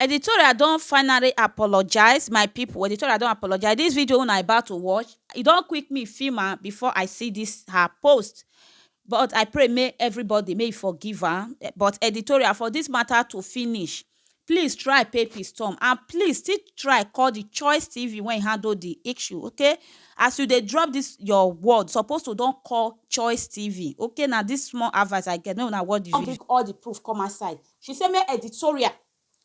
Editorial don finally apologize my people editorial don apologize this video una about to watch e don quick me film am before I see this her post but I pray make everybody make e forgive am but editorial for this matter to finish please try pay pistom and please still try call the choice tv when handle the issue okay as you dey drop this your word suppose to don call choice tv okay na this small advice I get make una watch the video. all the proof come outside She say make editorial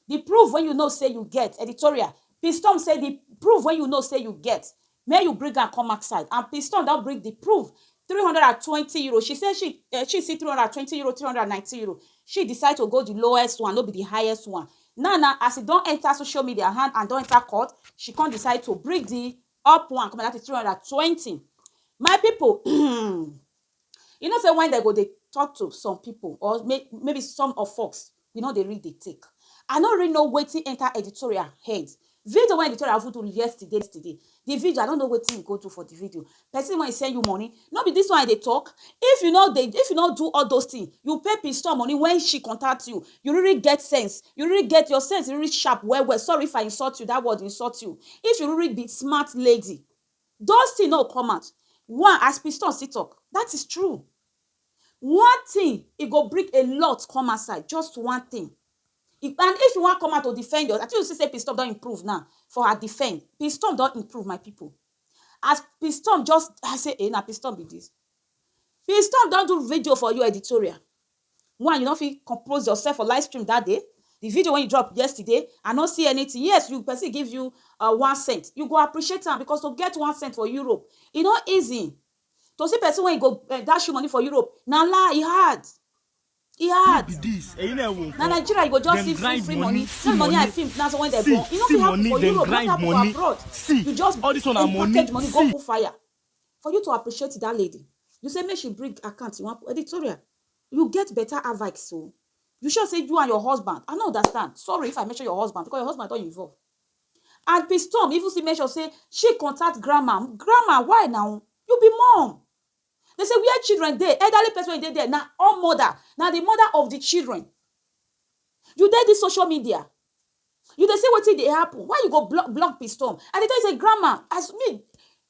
the proof wey you know say you get editorial Pistom say the proof wey you know say you get make you bring am come outside and Pistom don bring the proof three hundred and twenty euro she say she eh, she see three hundred and twenty euro three hundred and nineteen euro she decide to go the lowest one no be the highest one now na as e don enter social media hand and don enter court she come decide to bring the up one come that is three hundred and twenty my people You know sey when dem go dey talk to some people or may maybe some of us, we no dey read the tick. I no really know wetin enter editorial head. Video wey editorial even do yesterday yesterday, the video, I no know wetin e go do for the video. Person wey send you money, no be dis one I dey talk? If you no dey, if you no do all dos things, you pay Piston money when she contact you, you really get sense? You really get, your sense really sharp well well. Sorry if I insult you, dat word insult you. If you really be smart lady, Those thing no go come out one as piston still talk that is true one thing e go bring a lot come outside just one thing and if you wan come out to defend your I think you see say piston don improve now for her defend piston don improve my people as piston just I say eh na piston be this piston don do video for you editorial Why you no fit compose yourself for live stream that day? The video wey you drop yesterday, I no see anything. Yes, you person give you uh, one cent. You go appreciate am because to get one cent for Europe, e no easy. To see person wey go uh, dash you money for Europe, na lie, e hard. E hard. be this ẹ̀yin náà wò Na nǹkan Nigeria you go just Dem see free grind free money, money. see That money I money. film na so when they See, born. E no see fit happen money, for dem Europe, not grind happen for money. abroad. See, You just all this one na money. imported money go See. put fire. For you to appreciate that lady, you say make she bring account you want editorial. You get better avix so. You sure say you and your husband, I no understand. Sorry if I mention your husband because your husband don involve. And Pistom even still mention say she contact grandma. Grandma, why now? You be mom. They say where children dey, elderly person wey dey there na all mother, na the mother of the children. You dey this social media, You dey see wetin dey happen, why you go block block piston? I dey tell you sey grandma as me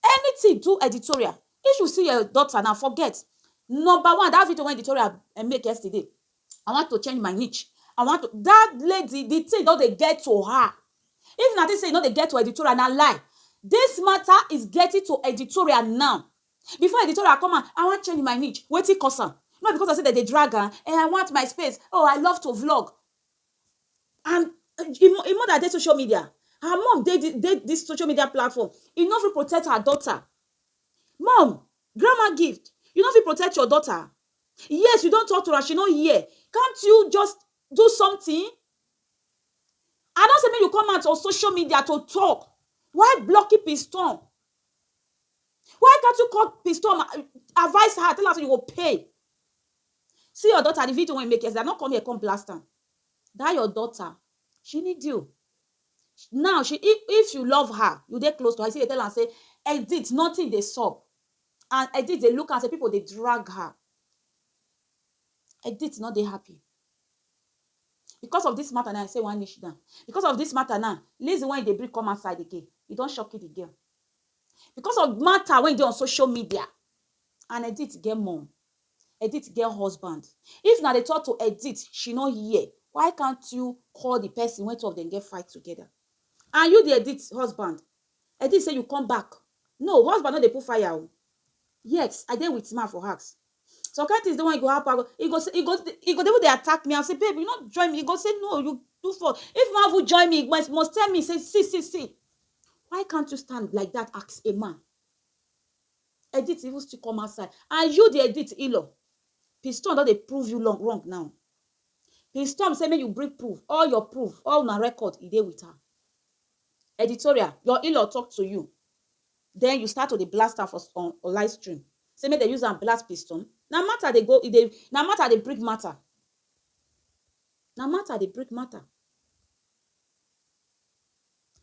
anything do editorial, if you see your daughter now forget. Number one dat video wey editorial make yesterday, I want to change my niche, I want to, dat lady de thing don dey get to her. If una think sey e no dey get to editorial na lie, dis matter is getting to editorial now. Before editorial come out, I want change my niche, wetin cause am? No be because of sey dem dey drag am? Ehen I want my space, oh I love to vlog. and im im mother dey social media her mum dey di dey dis social media platform e no fit protect her daughter mum grandma gift you no fit protect your daughter yes you don talk to am she no hear can't you just do something i no say make you come out on social media to talk why blocking piston why can't you call piston advice her tell her say you go pay See your daughter the video wey make yesterday i no come here come blast am that your daughter she need you now she if if you love her you dey close to her you still dey tell am say edit nothing dey sup and edit dey look am say people dey drag her edit no dey happy because of this matter now i say i wan niche down because of this matter now lazy wey you dey bring come outside again you don shock the girl because of matter wey dey on social media and edit get mum Edith get husband. If na dey talk to Edith she no hear, why can't you call the person wey two of dem get fight together? And you the Edith husband, Edith say you come back, no husband no dey put fire o, yes I dey with man for house, some kind things dey wey e go happen, e go say, e go e go dey even dey attack me, I go say babe you no join me, e go say no you do for, if you wan even join me you must must tell me say see see see, why can't you stand like that as a man? Edith even still come outside and you the Edith Ilo, Piston don dey prove you long wrong now. Piston say make you bring proof, all your proof, all una record e dey with am. Editorial, your Ilo talk to you, then you start to dey blast am for on on live stream say make dem use am blast Piston. Na matter dey go e dey, na matter dey bring matter, na matter dey bring matter.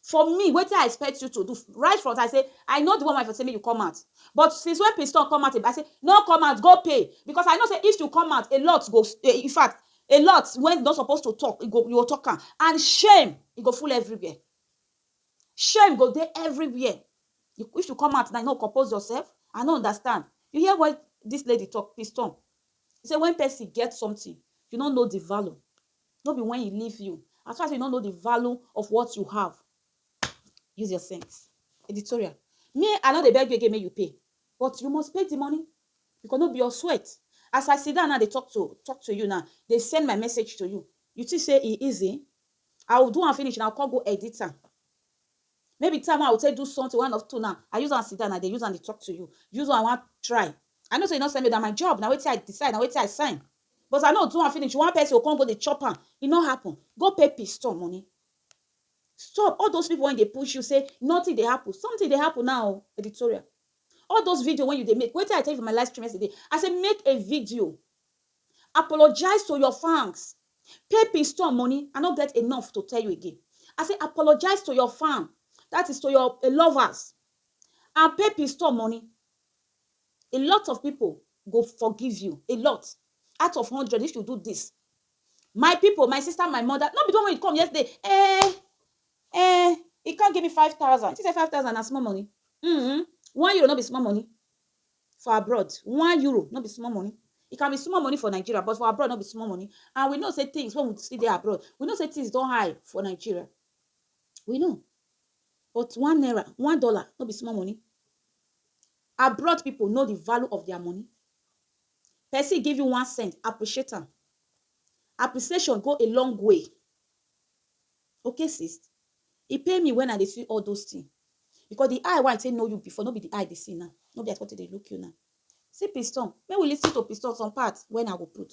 For me, wetin I expect you to do? Right from I say, I know the one wey for say make you come out. But since when Piston come out, I say, no come out, go pay. Because I know say if you come out, a lot go, in fact, a lot when you no suppose to talk, you go talk am. And shame, e go full everywhere. Shame go dey everywhere. If you come out now, you no compose yourself? I no understand. You hear what dis lady talk, Piston? Say when person get something, you no know the value, no be when e leave you as far as you no know the value of what you have use your sense editorial me i no dey beg you again make you pay but you must pay the money because no be your sweat as i sit down now dey talk to talk to you now dey send my message to you you think say e easy i will do am finish and i will come go edit am maybe time wey i will take do something one of two now i use am sit down i dey use am dey talk to you use am i wan try i know say you no send me na my job na wetin i decide na wetin i sign But I no do am finish one person go come go dey chop am, e no happen. Go pay pistor money. Stop all those people wey dey push you say nothing dey happen, something dey happen now o. Editorial. All those video wey you dey make, wetin I tell you for my live stream yesterday, I say make a video, apologize to your fans, pay pistor money, I no get enough to tell you again. I say apologize to your fan, that is to your lovers and pay pistor money. a lot of people go forgive you a lot out of hundred if you do this my people my sister my mother no be the one wey come yesterday eh eh he come give me five thousand she say five thousand na small money mm -hmm. one euro no be small money for abroad one euro no be small money e can be small money for nigeria but for abroad no be small money and we know say things when we see there abroad we know say things don't high for nigeria we know but one naira one dollar no be small money Abroad people know the value of their money. Person give you one cent, appreciate am. Appreciation go a long way. Okay, sis? E pain me when I dey see all those things. Because the eye wey I take know you before, no be the eye dey see now. No be as what dey look you now. See Piston. Make we listen to Piston some part when I go put.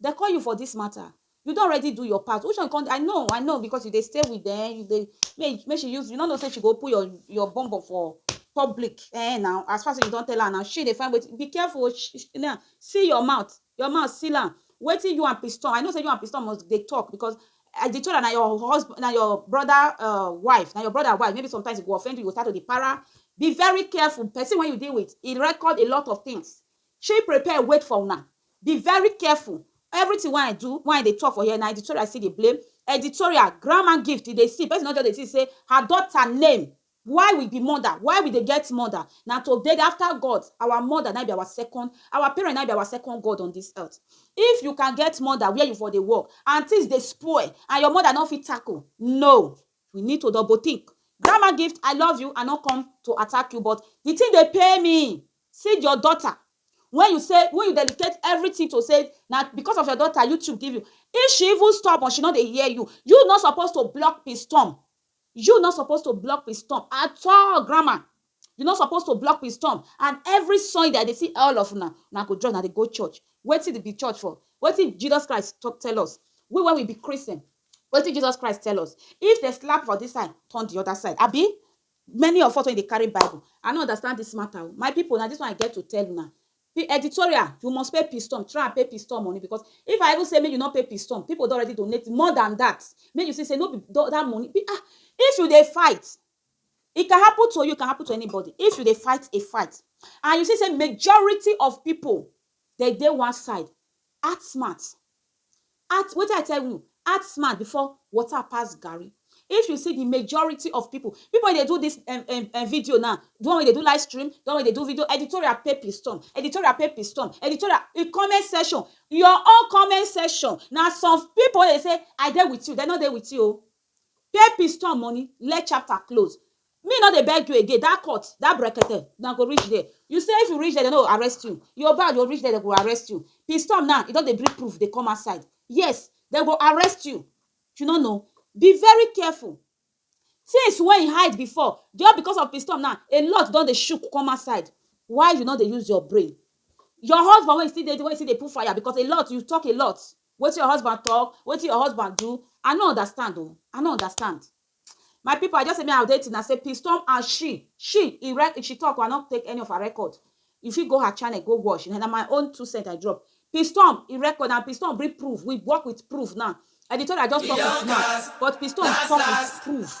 Dem call you for this matter you don already do your part which one you come i know i know because you dey stay with dem you dey make make she use you no know say she go open your your bum bum for public eh now as far say you don tell her now she dey find wetin be careful o she now seal your mouth your mouth seal am wetin you and piston i know say you and piston must dey talk because i dey told am na your husband na your brother um wife na your brother wife maybe sometimes e go offend you you go start to dey para be very careful person wey you dey with e record a lot of things She prepare wait for una. Be very careful everything wey I do wey I dey talk for here na editorial I still dey blame editorial grandma gift you dey see person no just dey think say her daughter name why we be mother why we dey get mother na to dey after God our mother na im be our second our parent na im be our second God on this earth if you can get mother where you for dey work and things dey spoil and your mother no fit tackle no you need to double think grandma gift I love you I no come to attack you but the thing dey pain me See your daughter wey you say wey you dedicate everything to say na because of your daughter YouTube give you if she even stubborn she no dey hear you you no suppose to block pistom you no suppose to block pistom at all grandma you no suppose to block pistom and every Sunday I dey see all of una una go join una dey go church wetin be church for wetin Jesus Christ talk tell us we wey we be Christian wetin Jesus Christ tell us if dem slap for this side turn the other side abi Many of us wey dey carry bible, I no understand dis matter o, my people na dis one I get to tell una, editorial you must pay pistom, try and pay pistom money because if I even say make you no pay pistom, people don already donate more than dat, make you see sey no be dat money um if you dey fight, e can happen to you, e can happen to anybody, if you dey fight a fight and you see sey majority of people Dem dey one side, act smart, act wetin I tell u, act smart before water pass garri, if u see the majority of people, people wey dey do this um um video now, the one wey dey do live stream, the one wey dey do video editorial pay pistom, editorial pay pistom, editorial the comment section, your own comment section na some people wey dey say I dey with u, dem no dey with u o, Pay piston money, let chapter close Me no dey beg you again, that court, that brekete Una go reach there, you say if you reach there dem no go arrest you Your bad, you reach there dem go arrest you Piston now, e don dey bring proof dey come outside Yes, dem go arrest you You no know Be very careful Things wey you hide before Just because of piston now, a lot don dey shook come outside Why you no dey use your brain Your husband wey you still dey, wey you still dey put fire because a lot, you talk a lot Wetin your husband talk? Wetin your husband do? I no understand oh, I no understand. My people, I just say me I dey till na say P storm and she, she, he re, she talk, I no take any of her record. You fit go her channel go watch. Na my own two cent I drop. P storm, he record and P storm bring proof. We work with proof now. Editorial just talk with mouth, but P storm talk with proof.